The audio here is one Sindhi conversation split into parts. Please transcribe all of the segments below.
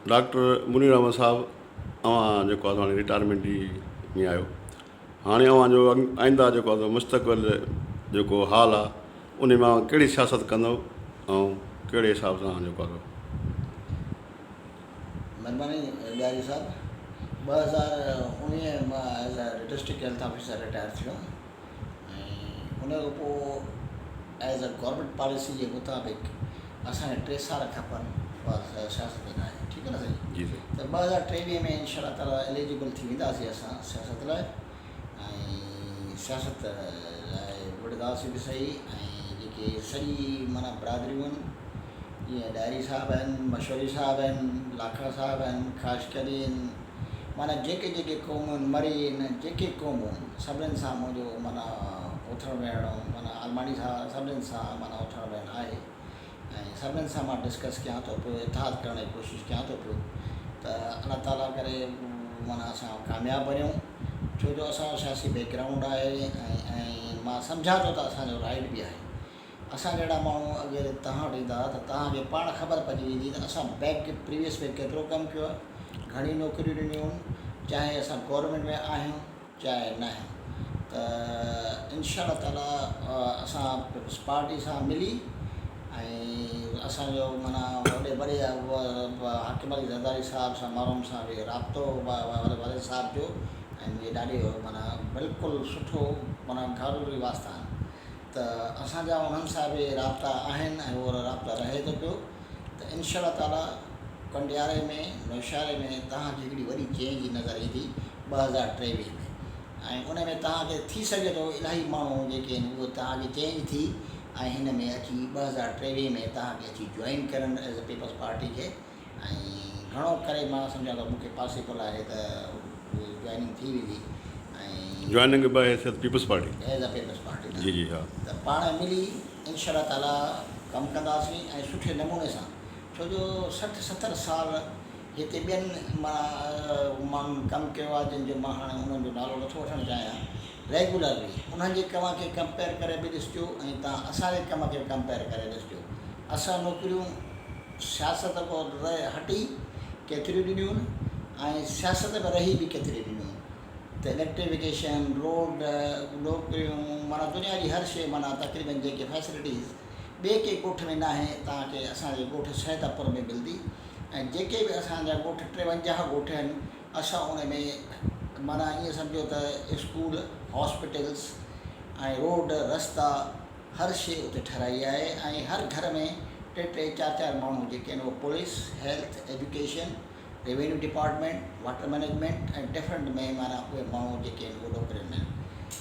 ڊاڪٽر منير احمد صاحب اوهان جيڪو آهي سو رٽائرمينٽ جي ۾ آهيو هاڻي اوهان جو آئنده جيڪو آهي سو مستقبل جيڪو حال آهي ان مان اوهان ڪهڙي سياست ڪندو ۽ ڪهڙي حساب سان اوهان جيڪو آهي سو ۽ ان کان پوء ايز اي گورمينٽ پاليسي جي مطابق اسان کي ٽي سال کپن اها سياست ۾ ناهي ٺيڪ آهي نه سائين جي سائين ته ٻه هزار ٽيويهه ۾ انشاء الله تعالي اليجبل ٿي وينداسين اسان سياست لاء ۽ سياست لاء وڙهنداسين به صحيح ۽ جيڪي سڄي معنيٰ برادريون آهن جيئن ڏاهري صاحب آهن مشوري صاحب آهن لاکڙا صاحب آهن خاص ڪري معنيٰ جيڪي جيڪي قومون مرين جيڪي قومون سڀنين سان منهنجو معنيٰ اٿڻ ويهڻ معنيٰ آلماڻي سان سڀنين سان معنيٰ اٿڻ ويهڻ آهي ۽ سڀنين سان مان ڊسڪس ڪيان ٿو پيو اتحاد ڪرڻ جي ڪوشش ڪيان ٿو پيو ته الله تعاليٰ ڪري معنيٰ اسان ڪامياب بڻيون ڇو جو اسانجو سياسي بيڪ گرائونڊ آهي ۽ مان سمجهان ٿو ته اسانجو رائٽ بي آهي اسان جهڙا ماڻهو اگر توهان وٽ ايندا ته توهان کي پاڻ خبر پئجي ويندي ته اسان بئڪ پريويس ۾ ڪيترو ڪم ڪيو آهي، گهڻيون نوڪريون ڏنيون هئون، چاهي اسان گورنمينٽ ۾ آهيون چاهي نه آهيون ته انشاء الله تعالي اسان پيپلز پارٽي سان ملي ۽ اسان جو معنيٰ وڏي وڏي حاڪم علي زرداري صاحب سان مرحوم سان به رابطو والد صاحب جو ۽ منهنجي ڏاڏي جو معنيٰ بلڪل سٺو معنيٰ گهر ري واسطا آهن. ته اسان جا انهن سان به رابطا آهن ۽ اهو رابطو رهي ٿو پيو ته انشاء الله تعالي ڪنڊياري ۾ نوشهري ۾ توهان کي هڪڙي وڏي چينج نظر ايندي ٻه هزار ٽيويهه ۾ ۽ ان ۾ توهان کي ٿي سگهي ٿو الاهي ماڻهو جيڪي آهن اهي توهان کي چينج ٿي ۽ هن ۾ اچي ٻه هزار ٽيويهه ۾ توهان کي اچي جوائن ڪرن ايز اي پيپلز پارٽي کي ۽ گهڻو ڪري مان سمجهان ٿو مون کي پاسيبل آهي ته جوائننگ ٿي ويندي ۽ جوائننگ به as a Peoples Party as a Peoples Party جي جي ها ته پاڻ ملي انشاء الله تعالي ڪم ڪنداسين ۽ سٺي نموني سان ڇو جو سٺ ستر سال هتي ٻين ماڻهن ڪم ڪيو آهي جن جو مان هاڻي انهن جو نالو نٿو وٺڻ چاهيان ريگيولرلي انهن جي ڪم کي ڪمپيئر ڪري به ڏسجو ۽ توهان اسان جي ڪم کي به ڪمپيئر ڪري ڏسجو اسان نوڪريون سياست کان رهي هٽي ڪيتريون ڏنيون ۽ سياست ۾ رهي به ڪيتريون ڏنيون ته اليڪٽريفڪيشن روڊ نوڪريون معنيٰ دنيا جي هر شيء معنيٰ تقريبن جيڪي فيسلٽيز ٻئي ڪنهن ڳوٺ ۾ ناهي توهان کي اسان جي ڳوٺ سيد اپر ۾ ملندي ۽ جيڪي به اسان جا ڳوٺ ٽيونجاهه ڳوٺ آهن اسان ان ۾ معنيٰ ائين سمجهو ته اسڪول، هاسپيٽلز ۽ روڊ، رستا هر شيء اتي ٺهرائي آهي ۽ هر گهر ۾ ٽي ٽي چار چار ماڻهو جيڪي آهن اهي police, health, education, revenue department, water management ۽ different ۾ معنيٰ اهي ماڻهو جيڪي آهن اهي نوڪرين ۾ آهن.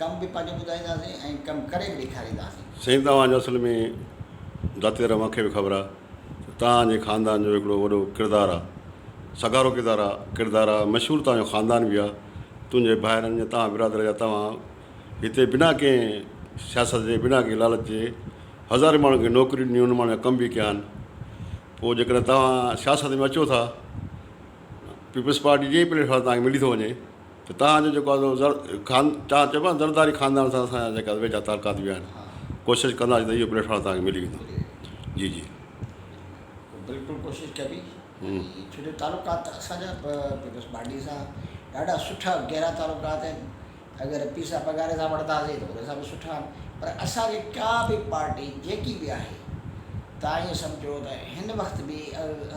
ڪم به پنهنجو ٻڌائينداسين ۽ ڪم ڪري به ڏيکارينداسين. سائين توهان جي اصل ۾ ذاتي طرح مونکي به خبر آ ته توهان جي خاندان جو هڪڙو وڏو ڪردار آ سگهارو ڪردار آ ڪردار آ مشهور توهان جو خاندان به آ تنهنجي ڀائرن جا توهان برادر جا توهان هتي بنا ڪنهن سياست جي بنا ڪنهن لالچ جي هزارين ماڻهن کي نوڪريون ڏنيون ان ماڻهن جا ڪم به ڪيا آهن پو جيڪڏهن توهان سياست ۾ اچو ٿا پيپلز پارٽي جي ئي پليٽ فارم توهان کي ملي ٿو وڃي. ته توهان جو جيڪو آهي سو خان چا چئبو آهي نه زرداري خاندان سان اسان جا جيڪا ويجها تعلقات به آهن ڪوشش ڪنداسين ته اهو پليٽ فارم توهان کي ملي ويندو جي جي. بلڪل ڪوشش ڪبي ڇو جو تعلقات ته اسان جا به پيپلز پارٽي سان ڏاڍا سٺا گهرا تعلقات آهن اگر پيسا پگهاري سان وٺنداسين ته ان سان به سٺا آهن پر اسان جي ڪا به پارٽي جيڪي به آهي توهان ايئن سمجهو ته هن وقت به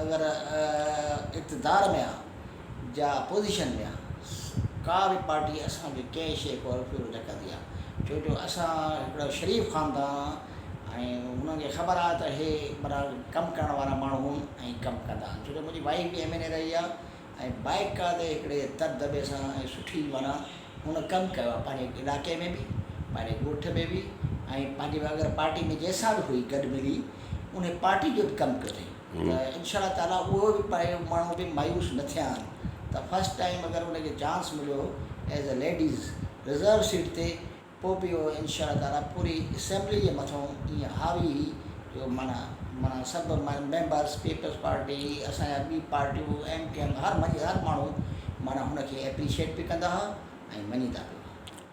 اگر اقتدار ۾ آهي جا اپوزيشن ويا ڪا به پارٽي اسان کي ڪنهن شيء کي اروڦيرو نه ڪندي آ ڇو جو اسان هڪڙو شريف خاندان آ ۽ انهن کي خبر آ ته هي برا ڪم ڪرڻ وارا ماڻهو آهن ۽ ڪم ڪندا آهن ڇو جو منهنجي وائيف به ايم اين اي رهي آ ۽ باقاعدي هڪڙي دٻدٻي سان ۽ سٺي معنيٰ هن ڪم ڪيو آ پنهنجي علائقي ۾ به پنهنجي ڳوٺ ۾ به ۽ پنهنجي اگر پارٽي ۾ جنهن سان به هئي گڏ ملي انهي پارٽي جو به ڪم ڪيو اٿئي ته انشاء الله تعاليٰ اهو به پڙهي ماڻهو به مايوس نه ٿيا آهن ته فرسٽ ٽائيم اگر ان کي چانس مليو as a ladies reserve seat تي پوء به اهو انشاء الله تعاليٰ پوري اسيمبلي جي مٿون ايئن هاوي هي جو معنيٰ معنيٰ سڀ ميمبرس پيپلز پارٽي اسان جا ٻي پارٽيون ايم ڪيو ايم هر مڃي هر ماڻهو معنيٰ هن کي ايپريشيٽ به ڪندا هئا ۽ مڃيندا به هئا.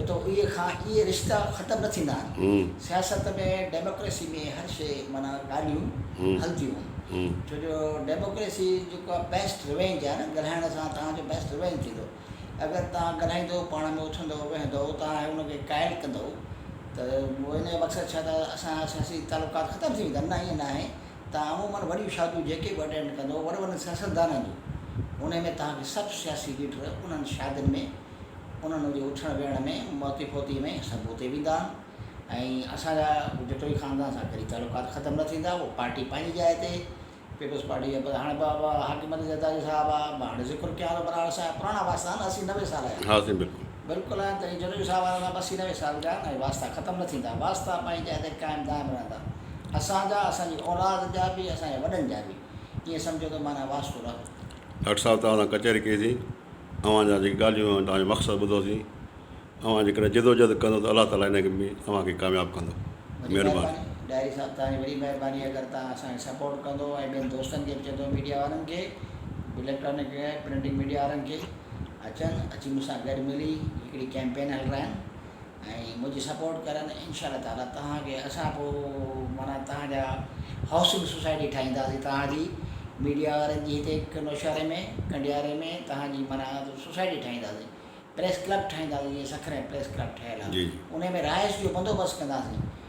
اتو اهي کان اهي رشتا ختم نه ٿيندا آهن. سياست ۾ ڊيموڪريسي ۾ هر شيء معنيٰ ڳالهيون هلنديون آهن. ڇو جو ڊيموڪريسي جيڪو آهي بيسٽ ريونج آهي نه ڳالهائڻ سان توهان جو بيسٽ ريونج ٿيندو. اگر توهان ڳالهائيندو پاڻ ۾ اٿندو ويهندو توهان هي ان کي قائل ڪندو ته ان جو مقصد ڇا ته اسان جا سياسي تعلقات ختم ٿي ويندا نه ائين ناهي توهان عمومن وڏيون شاديون جيڪي به اٽينڊ ڪندو وڏن وڏن سياستدانن جون انهي ۾ توهان کي سڀ سياسي ليڊر انهن شادين ۾ انهن جي اٿڻ ويهڻ ۾ موتي فوتيء ۾ سڀ اتي ويندا ۽ اسان جا ڳجهه ٽوئي خاندان سان ڪڏهن تعلقات ختم نه ٿيندا. اهو پارٽي پنهنجي جاء تي، پيپلز پارٽي جا پرهاڻ باب، حاڪم علي زرداري صاحب آ، مان هاڻي ذڪر ڪيان ٿو برار صاحب، پراڻا واسطا آهن، اسي نوي سال جا. ها سائين بلڪل. بلڪل آهن ته اهي جنوبي صاحب وارا سڀ اسي نوي سال جا آهن ۽ واسطا ختم نه ٿيندا. واسطا پنهنجي جاء تي قائم دائم رهندا. اسان جا، اسان جي اولاد جا به، اسان جي وڏن جا به. ائين سمجهو ته معنيٰ واسطو رهندو. ڊاڪٽر صاحب توهان سان ڪچهري ڪئي سين. اوهان جا جيڪي ڳالهيون ۽ توهان جو مقصد ٻڌوسين. اوهان جيڪڏهن جدوجهد ڪندو ته الله تعاليٰ انهي ۾ اوهان کي ڪامياب ڪندو. وڏي مهرباني ڏاهري صاحب توهان جي وڏي مهرباني اگر توهان اسان کي سپورٽ ڪندو ۽ ٻين دوستن کي به چئندو ميڊيا وارن کي اليڪٽرانڪ ۽ پرنٽنگ ميڊيا وارن کي اچن اچي مون سان گڏ ملي هڪڙي ڪيمپين هلرائن ۽ منهنجي سپورٽ ڪرن انشاء الله تعالي توهان کي اسان پو معنيٰ توهان جا هائوسنگ سوسائٽي ٺاهينداسين توهان جي ميڊيا وارن جي هتي هڪ نوشهري ۾ ڪنڊياري ۾ توهان جي معنيٰ سوسائٽي ٺاهينداسين پريس ڪلب ٺاهينداسين جيئن سکر ۾ پريس ڪلب ٺهيل آ انهي ۾ رهائش جو بندوبست ڪنداسين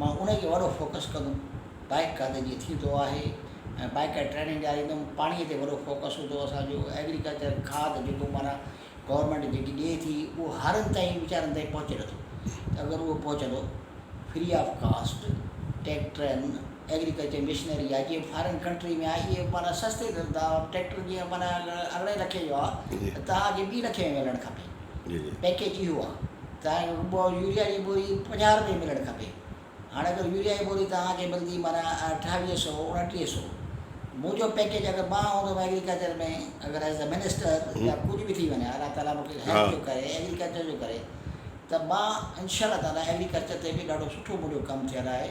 مان انهي کي وڏو فوڪس ڪندم بائيڪ ڪا ته جيئن ٿيندو آهي ۽ بائيڪ ڪا ٽريننگ ڏياريندم پاڻي تي وڏو فوڪس هوندو اسان جو ايگريڪلچر کاد جيڪو معنيٰ گورنمينٽ جيڪي ڏئي ٿي اهو هارن تائين ويچارن تائين پهچي نٿو ته اگر اهو پهچندو فري آف ڪاسٽ ٽيڪٽرن ايگريڪلچر مشنري آهي جيئن فارن ڪنٽري ۾ آهي اهي معنيٰ سستي ڏين ٿا ٽيڪٽر جيئن معنيٰ اگر ارڙهن لکين جو آهي ته توهان کي ٻي لکين جو ملڻ کپي پيڪيج جي هئا ته يوريا جي بوري پنجاهه رپئي ملڻ کپي هاڻ اگر يوريا جي بوري توهان کي ملندي معنيٰ اٺاويهه سئو اڻٽيهه سئو منهنجو پيڪيج اگر مان هوندم ايگريڪلچر ۾ اگر ايز اي منسٽر يا ڪجهه به ٿي وڃان الله تعالي مون کي هيلٿ جو ڪري ايگريڪلچر جو ڪري ته مان انشاء الله تعالي ايگريڪلچر تي به ڏاڍو سٺو منهنجو ڪم ٿيل آهي